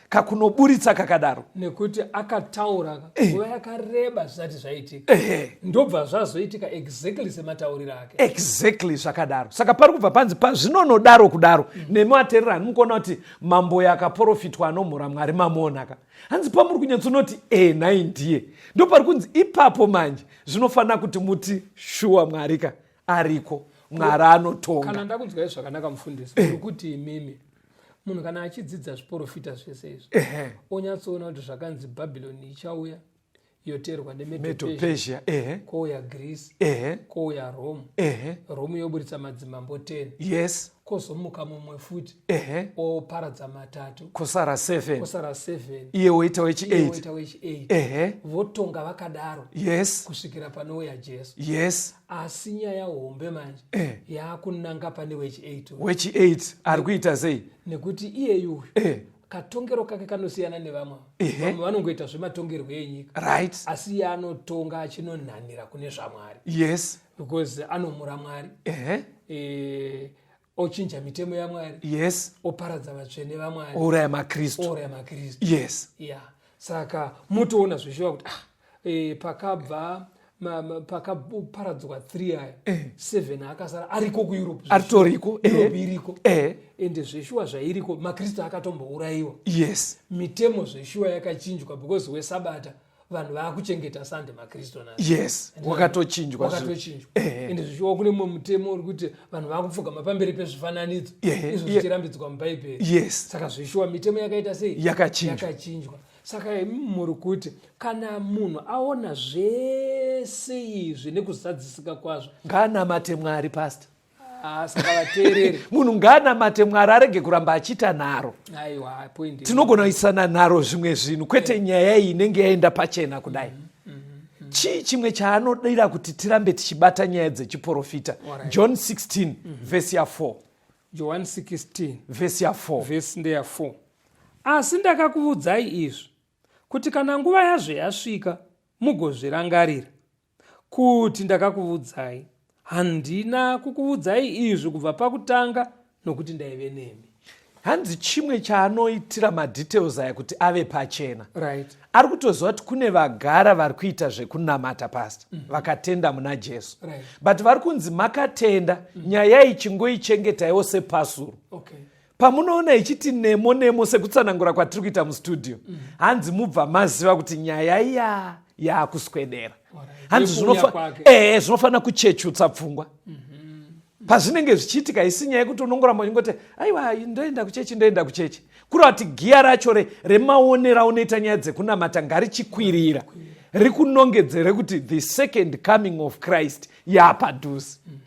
kakunoburitsa kakadaro nekuti akataura eh. nguva yakareba zvisati zvaitika ndobva zvazoitika exactly sematauriro ake exactly zvakadaro saka pari kubva panzi pazvinonodaro kudaro mm. nemi aterera hani mukuona kuti mambo yakaprofitwa anomhura mwari mamuonaka hanzi pamuri kunyatsonoti e nhai ndiye ndo pari kunzi ipapo manje zvinofanira kuti muti shuwa mwari ka ariko mwari anotonga kana ndakunzwai zvakanaka mufundisi eh. kuti imimi munhu kana achidzidza zviprofita zvese izvi onyatsoona kuti zvakanzi bhabhironi ichauya yoterwa nemedopesia ehe kouya greece ehe kouya rome ehe rome yoburitsa madzimambo 10 yes kozomuka mumwe futi ehe oparadza matatu kosara 7 kosara 7 iye woita wechi 8 woita wechi 8 ehe votonga vakadaro yes kusvikira panouya jesu yes asi nyaya hombe manje eh. yakunanga pane wechi 8 wechi 8 ari kuita sei nekuti iyeyu eh katongero kake kanosiyana nevamwe vamwe vanongoita zvematongerwo enyika right asi iye anotonga achinonhanira kune zvamwari yes because anomura mwari ehe eh, ochinja mitemo yamwari yes oparadza vatsvene vamwari ouraya makristu ouraya makristu yes yeah saka motoona zvichiva kuti ah e, pakabva pakaparadzwa three aya eh. seven akasara ariko kueurope aritoriko eh. europe iriko eh. ende zveshuwa zvairiko makristu akatombourayiwa yes mitemo zveshuwa yakachinjwa because wesabata vanhu vaakuchengeta sande makristu na yes wakatochinjwa wakatochinjwa ende zvichiwa kune mumwe mutemo uri kuti vanhu vakupfugama pamberi pezvifananidzo izvo zvichirambidzwa mubhaibheri yes saka zvishuwa mitemo yakaita sei yakachinjwa saka imi muri kuti kana munhu aona zvese izvi nekuzadzisika kwazvo ngaanamate mwari pasta ah, saka vateereri munhu ngaanamate mwari arege kuramba achiita nharo aiwa point tinogona kuisana nharo zvimwe zvinhu kwete eh. nyaya iyi inenge yaenda pachena kudai mm -hmm. Mm -hmm. chii chimwe chaanodira kuti tirambe tichibata nyaya dzechiprofita right. john 16 mm -hmm. vhesi ya 4 johani 16 vhesi ya 4 vhesi ndeya 4 asi ndakakuvudzai izvi kuti kana nguva yazvo yasvika mugozvirangarira kuti ndakakuvudzai handina kukuvudzai izvi kubva pakutanga nokuti ndaive nemi hanzi chimwe chaanoitira madetails aya kuti ave pachena right ari kutoziva kuti kune vagara vari kuita zvekunamata pasta mm -hmm. vakatenda muna jesu right. but vari kunzi makatenda mm -hmm. nyaya ichingoichengetaiwo sepasuro okay pamunoona ichiti nemo nemo sekutsanangura kwatiri kuita mustudio mm. hanzi mubva maziva kuti nyaya iya yaakuswedera hanzi eh, zvinofanira kuchechutsa pfungwa mhm. pazvinenge zvichiitika isi nyaya yekuti unongoramba uchingoti aiwa ndoenda kuchechi ndoenda kuchechi kuri vati giya racho re remaonero aunoita nyaya dzekunamata ngarichikwirira rikunongedzere kuti the second coming of christ yapadhuze mm -hmm.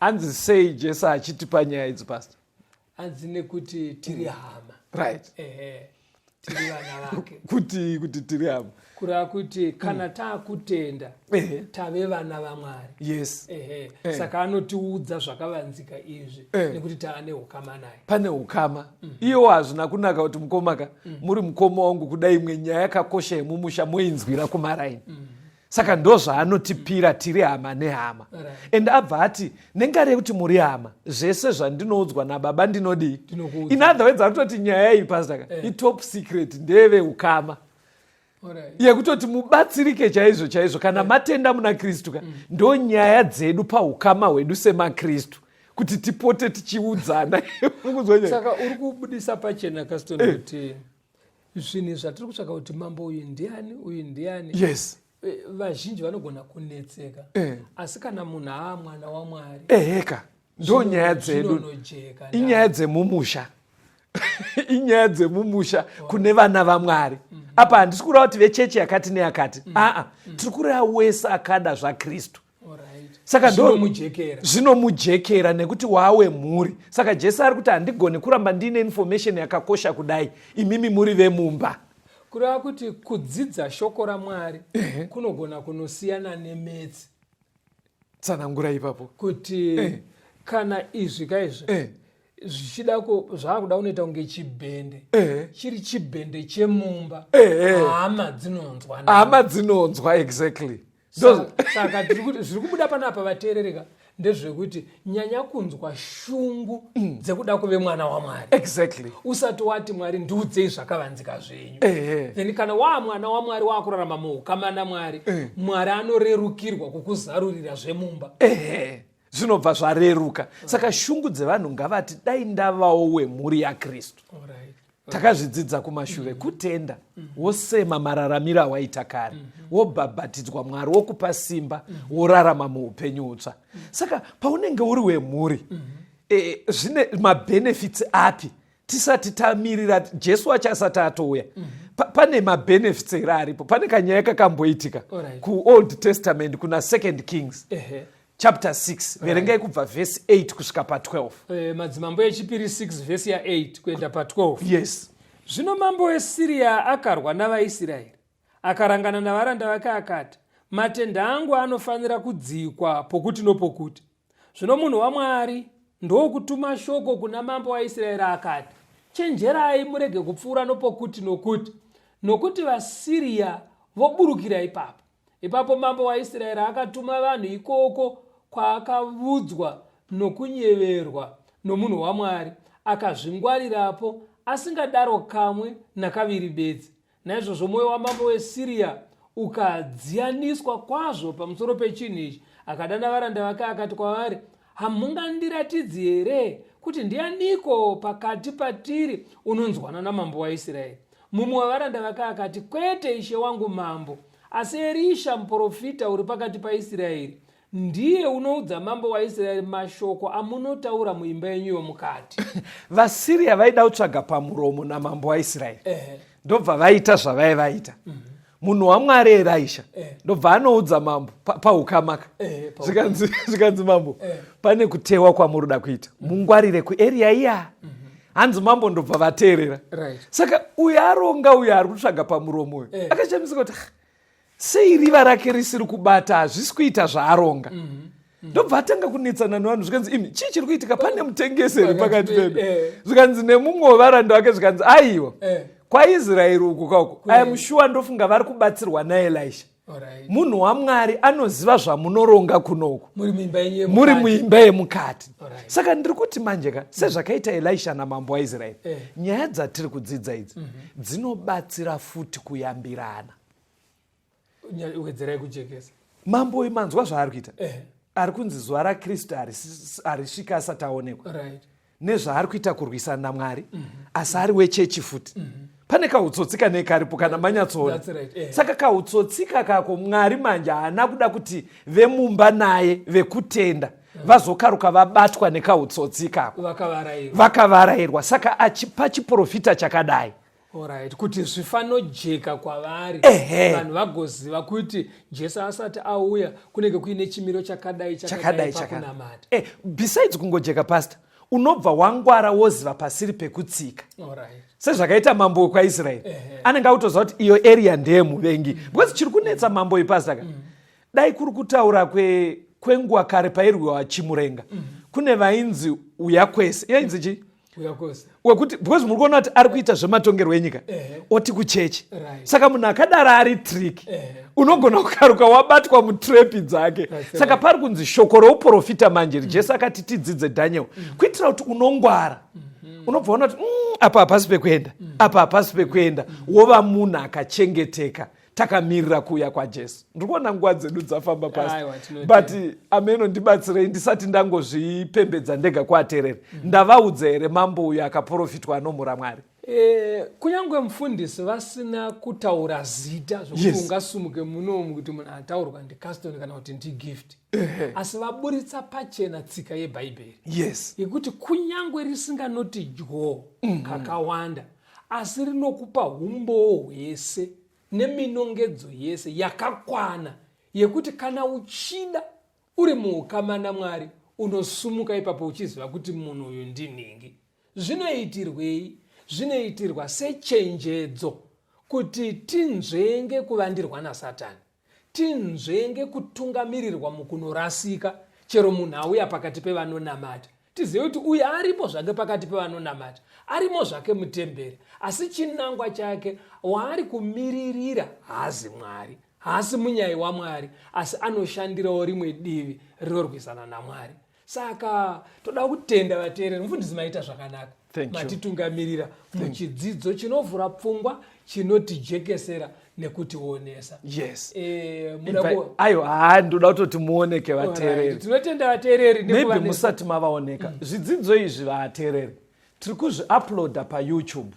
hanzi sei jesu achitipa nyaya idzi pastor hanzi nekuti tiri hama right ehe tiri vana vake kuti kuti tiri hama kureva kuti kana mm. taakutenda ehe tave vana vamwari yes ehe eh. saka anotiudza zvakavanzika izvi eh. nekuti tava neukama naye pane ukama mm. iwo hazvina kunaka kuti mukomaka mm. muri mukoma wangu kudai imwe nyaya yakakosha yemumusha moinzwira kumaraini mm. saka ndozvaanotipira tiri hama nehama and abva ati nengari yekuti muri hama zvese zvandinoudzwa nababa ndinodii in other words anototi nyaya iyi pastaka eh. itop secret ndeve ukama yekutoti mubatsirike chaizvo chaizvo kana eh. matenda muna kristu ka mm. ndo nyaya dzedu paukama hwedu semakristu kuti tipote tichiudzana saka uri kubudisa pachena kaston eh. kuti zvinhu zvatiri kutsvaka kuti mambo uyu ndiani uyu ndiani yes eh, vazhinji vanogona kunetseka eh. asi kana munhu aa mwana wamwari eheka ndo nyaya dzedu inyaya dzemumusha inyaya dzemumusha kune vana vamwari mm. apa handisi kureva kuti vechechi yakati neyakati mm. aa mm. tiri kureva wese akada zvakristu saka zvinomujekera nekuti wawe mhuri saka jesu ari kuti handigoni kuramba ndiine information yakakosha kudai imimi muri vemumba kureva kuti kudzidza shoko ramwari kunogona kunosiyana nemetsi tsanangura ipapo kuti eh. kana izvi ka izvi eh. zvichida zvaakuda kunoita kunge chibhende eh. chiri chibhende chemumba hama dzinonzwa hama dzinonzwa exactly saka zviri kubuda panapa vateerereka ndezvekuti nyanya kunzwa shungu mm. dzekuda kuve mwana wamwari exactly usati wati mwari ndiudzei zvakavanzika zvenyu then kana waa mwana wamwari waakurarama muukama namwari eh. mwari anorerukirwa kukuzarurira zvemumba zvinobva zvareruka saka shungu dzevanhu ngavati dai ndavawo wemhuri yakristu takazvidzidza kumashure mm-hmm. kutenda mm-hmm. wosema mararamiro awaita kare mm-hmm. wobhabhatidzwa mwari wokupa simba worarama muupenyu hutsva saka paunenge uri wemhuri e, zvine mabhenefits api tisati tamirira jesu wacho asati atouya pane mabhenefits here aripo pane kanyaya kakamboitika kuold testament kuna second kings chapter 6 verengai kubva vhesi 8 kusvika pa12 eh, madzimambo echipiri 6 vhesi ya8 kuenda pa12 yes zvino mambo wesiriya akarwa navaisraeri akarangana navaranda vake akati matenda angu anofanira kudzikwa pokuti nopokuti zvino munhu wamwari ndokutuma shoko kuna mambo waisraeri akati chenjerai murege kupfuura nopokuti nokuti nokuti vasiriya voburukira ipapo ipapo mambo waisraeri akatuma vanhu ikoko kwaakavudzwa nokunyeverwa nomunhu wamwari akazvingwarirapo asingadaro kamwe nakaviri bedzi naizvozvo mwoyo wamambo wesiriya ukadziyaniswa kwazvo pamusoro pechinhu ichi akadana varanda vake akati kwavari Hamungandiratidzi here kuti ndianiko pakati patiri unonzwana namambo waIsraeri? Mumwe wavaranda vake akati, Kwete, ishe wangu mambo, asi Erisha muprofita uri pakati paIsraeri ndiye unoudza mambo waIsraeri mashoko amunotaura muimba yenyu yomukati. VaSiria vaida kutsvaga pamuromo namambo waIsraeri. Ehe. ndobva vaita zvavai vaita mhm. munhu wamwari eraisha eh. ndobva anoudza mambo paukamaka eh, zvikanzi mambo eh. pane kutewa kwamuri da kuita mhm. mungwarire kueria iya mhm. hanzi mambo ndobva vateerera saka uyo aronga uyo ari kutsvaga pamuromo uyo akachamisika kuti sei riva rake risiri kubata hazvisi kuita zvaaronga mm -hmm ndobva atanga kunetsana nevanhu zvikanzi imi chii chiri kuitika pane mutengesi here pakati pedu eh. zvikanzi nemumwe wevaranda wake zvikanzi aiwa eh. kwaisraeri uku kauko aimushuwa ndofunga vari kubatsirwa naelisha munhu wamwari anoziva zvamunoronga kunouku muri muimba yemukati saka ndiri kuti manje ka sezvakaita elisha namambo waisraeri eh. nyaya dzatiri kudzidza idzi mhm. dzinobatsira futi kuyambirana wedzerai kujekesa mambo uyu manzwa zvaari kuita eh. ari kunzi zuva rakristu harisvika asati aonekwa right. nezvaari kuita kurwisana namwari mm -hmm. asi ari wechechi futi mm -hmm pane kautsotsi kanei karipo kana manyatsoona right, yeah. saka kautsotsi kakako mwari manje haana kuda kuti vemumba naye vekutenda mm. vazokaruka vabatwa nekautsotsi ikako vakavarairwa saka achipa chiprofita chakadai Alright, kuti zvifanojeka kwavari vanhu vagoziva kuti jesu asati auya kunenge kuine chimiro chakadai chakadai pakunamata eh, besides kungojeka pastor unobva wangwara woziva pasiri pekutsika Alright. sezvakaita mambo wekwaisraeri eh, eh. anenge akutoziva kuti iyo area ndeye muvengi mm. because chiri kunetsa mambo ipasaka mm. dai kuri kutaura kwenguva kare pairwiwa chimurenga mm. kune vainzi uya kwese iyo inzi chii wekuti because muri kuona kuti ari kuita zvematongerwo enyika oti kuchechi saka munhu akadaro ari trick unogona kukaruka wabatwa mutrepi dzake saka pari kunzi shoko rouprofita manje mm. jesu akati tidzidze daniel mm. kuitira kuti unongwara mm-hmm. unobva ona kuti mm, apa hapasi pekuenda mm. apa hapasi pekuenda wova munhu akachengeteka takamirira kuuya kwajesu ndiri kuona nguva dzedu dzafamba pasi but ameno ndibatsirei ndisati ndangozvipembedza ndega kuatereri mm. ndavaudza here mambo uyo akaprofitwa anomhura mwari e, kunyange mufundisi vasina kutaura zita zvokuti yes. ungasumuke munomu kuti munhu ataurwa ndicaston kana kuti ndigift asi vaburitsa pachena tsika yebhaibheri yes yekuti kunyange risinganoti dyo mm -hmm. kakawanda asi rinokupa umbowo hwese neminongedzo yese yakakwana yekuti kana uchida uri muukama namwari unosumuka ipapo uchiziva kuti munhu uyu ndinhingi zvinoitirwei zvinoitirwa sechenjedzo kuti tinzvenge kuvandirwa nasatani tinzvenge kutungamirirwa mukunorasika chero munhu auya pakati pevanonamata tizive kuti uyu arimo zvake pakati pevanonamata arimo zvake mutemberi asi chinangwa chake waari kumiririra haazi mwari haasi munyai wamwari asi anoshandirawo rimwe divi rinorwisana namwari saka toda kutenda vateereri mufundisi maita zvakanaka matitungamirira muchidzidzo chinovhura pfungwa chinotijekesera nekutionesa yes e, ayo haa ndoda kutoti muoneke vateereri tinotenda vateereri maybe musati mavaoneka mm. zvidzidzo izvi vateereri tiri kuzviuploada payoutube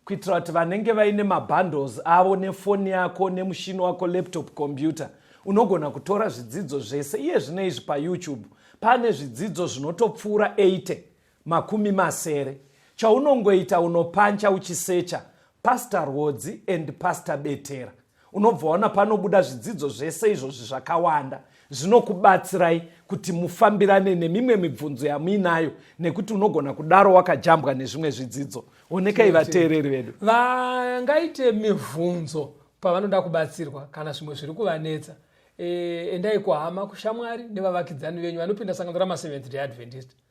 kuitira kuti vanenge vaine mabundles avo nefoni yako nemushini wako laptop computer unogona kutora zvidzidzo zvese iye zvino izvi payoutube pane zvidzidzo zvinotopfuura 80 makumi masere chaunongoita unopancha uchisecha pastor rwodzi and pastor betera unobva waona panobuda zvidzidzo zvese izvozvi zvakawanda zvinokubatsirai kuti mufambirane nemimwe mibvunzo yamuinayo nekuti unogona kudaro wakajambwa nezvimwe zvidzidzo onekai vateereri vedu vangaite mibvunzo pavanoda kubatsirwa kana zvimwe zviri kuvanetsa e, endai kuhama kushamwari nevavakidzani venyu vanopinda sangano rama7 readventist e,